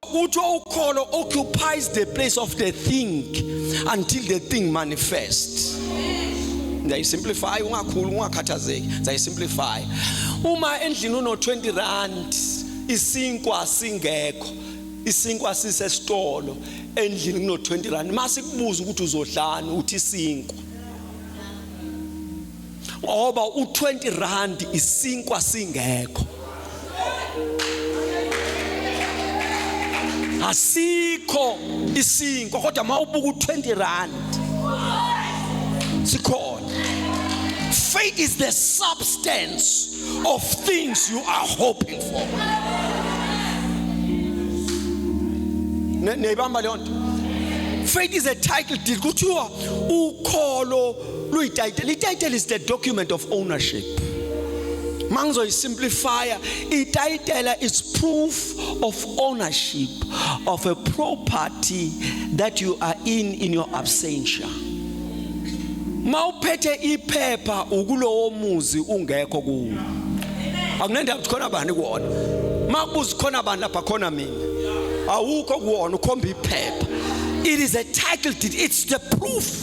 kuthiwa ukholo occupies the place of the thing until the thing manifest ngiyayisimplify ungakhulu ungakhathazeki ngiyayisimplify uma endlini uno 20 rand isinkwa singekho isinkwa sisesitolo endlini kuno 20 rand mase kubuza ukuthi uzodlani uthi isinkwa ngoba u20 rand isinkwa singekho asikho isinkwa kodwa mawubuka u20 rand sikhona faith is the substance of things you are hoping for neyibamba leyo nto faith is a title deed kuthiwa ukholo luyitayitela itayitela is the document of ownership mangizoyisimplifya itayitela is proof of ownership of a property that you are in in your absentia mawuphethe iphepha ukulowo muzi ungekho kuwo akunendaba ukuthi khona bani kuwona makubuza khona bani lapha khona mina awukho kuwona ukhomba iphepha it is a title deed it's the proof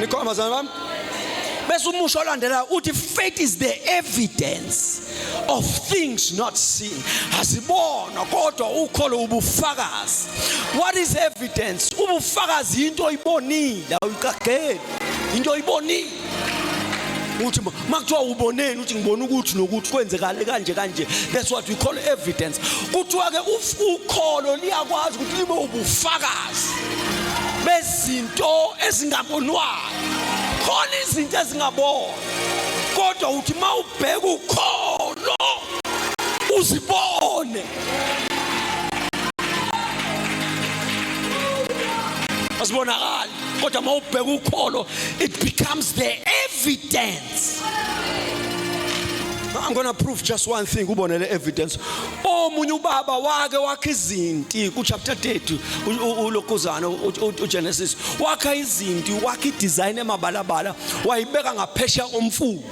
nikhona bazalwane bami bese umusho olandelayo uthi faith is the evidence of things not seen asibona kodwa ukholo ubufakazi what is evidence ubufakazi into oyibonile awuyiqageli into oyibonile uthi makuthiwa uboneni uthi ngibona ukuthi nokuthi kwenzekale kanje kanje that's what we call evidence kuthiwa ke ukholo liyakwazi ukuthi libe ubufakazi bezinto ezingabonwayo khona izinto ezingabonwa kodwa uthi mawubheka ukholo uzibone asibonakala kodwa uma ubheka ukholo it becomes the evidence I'm going to prove just one thing kubone le evidence omunye ubaba wake wakhe izinti ku chapter 30 ulokuzana uGenesis wakha izinti wakhe design emabalabala wayibeka ngaphesha omfulu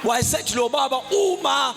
wayesethi lo baba uma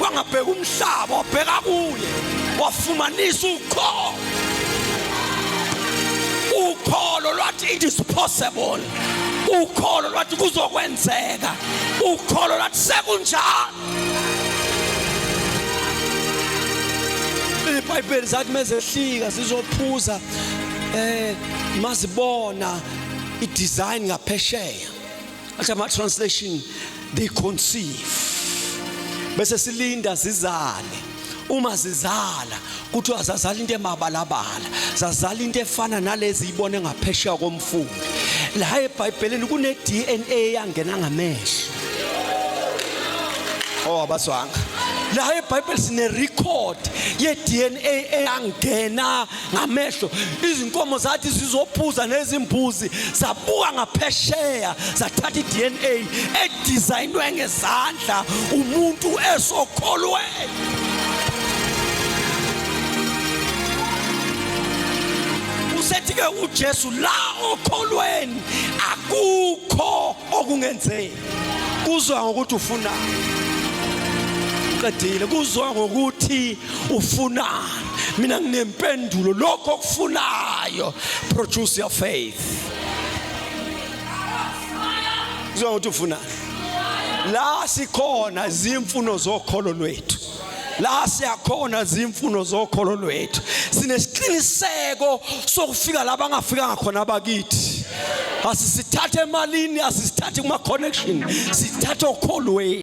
wangabheka umhlaba wabheka kuye wafumanisa ukholo ukholo lwathi it is possible ukholo lwathi kuzokwenzeka ukholo lwathi sekunjalo ibhayibheli zathi mezehlika sizophuza eh mazibona idesign ngaphesheya athi ama translation they conceive bese silinda zizale uma zizala kuthiwa zazala into emabalabala zazala into efana nalezi ibone ngaphesheya komfula la ebhayibhelini kune DNA yangena ngamehlo oh abaswanga la ebhayibheli sine record ye DNA eyangena ngamehlo izinkomo zathi zizophuza nezimbuzi zabuka ngaphesheya zathatha i-dna edizayinwe ngezandla umuntu esokholwe usethi-ke ujesu la okholweni akukho okungenzeki kuzwa ngokuthi ufunani qedile kuzwa ngokuthi ufunani mina nginempendulo lokho okufunayo produce your faith uzwa ukuthi ufunani la sikhona zimfuno zokholo lwethu la siyakhona zimfuno zokholo lwethu sinesiqiniseko sokufika la bangafikanga khona abakithi asisithathe emalini asisithathe kuma connection sithathe okholweni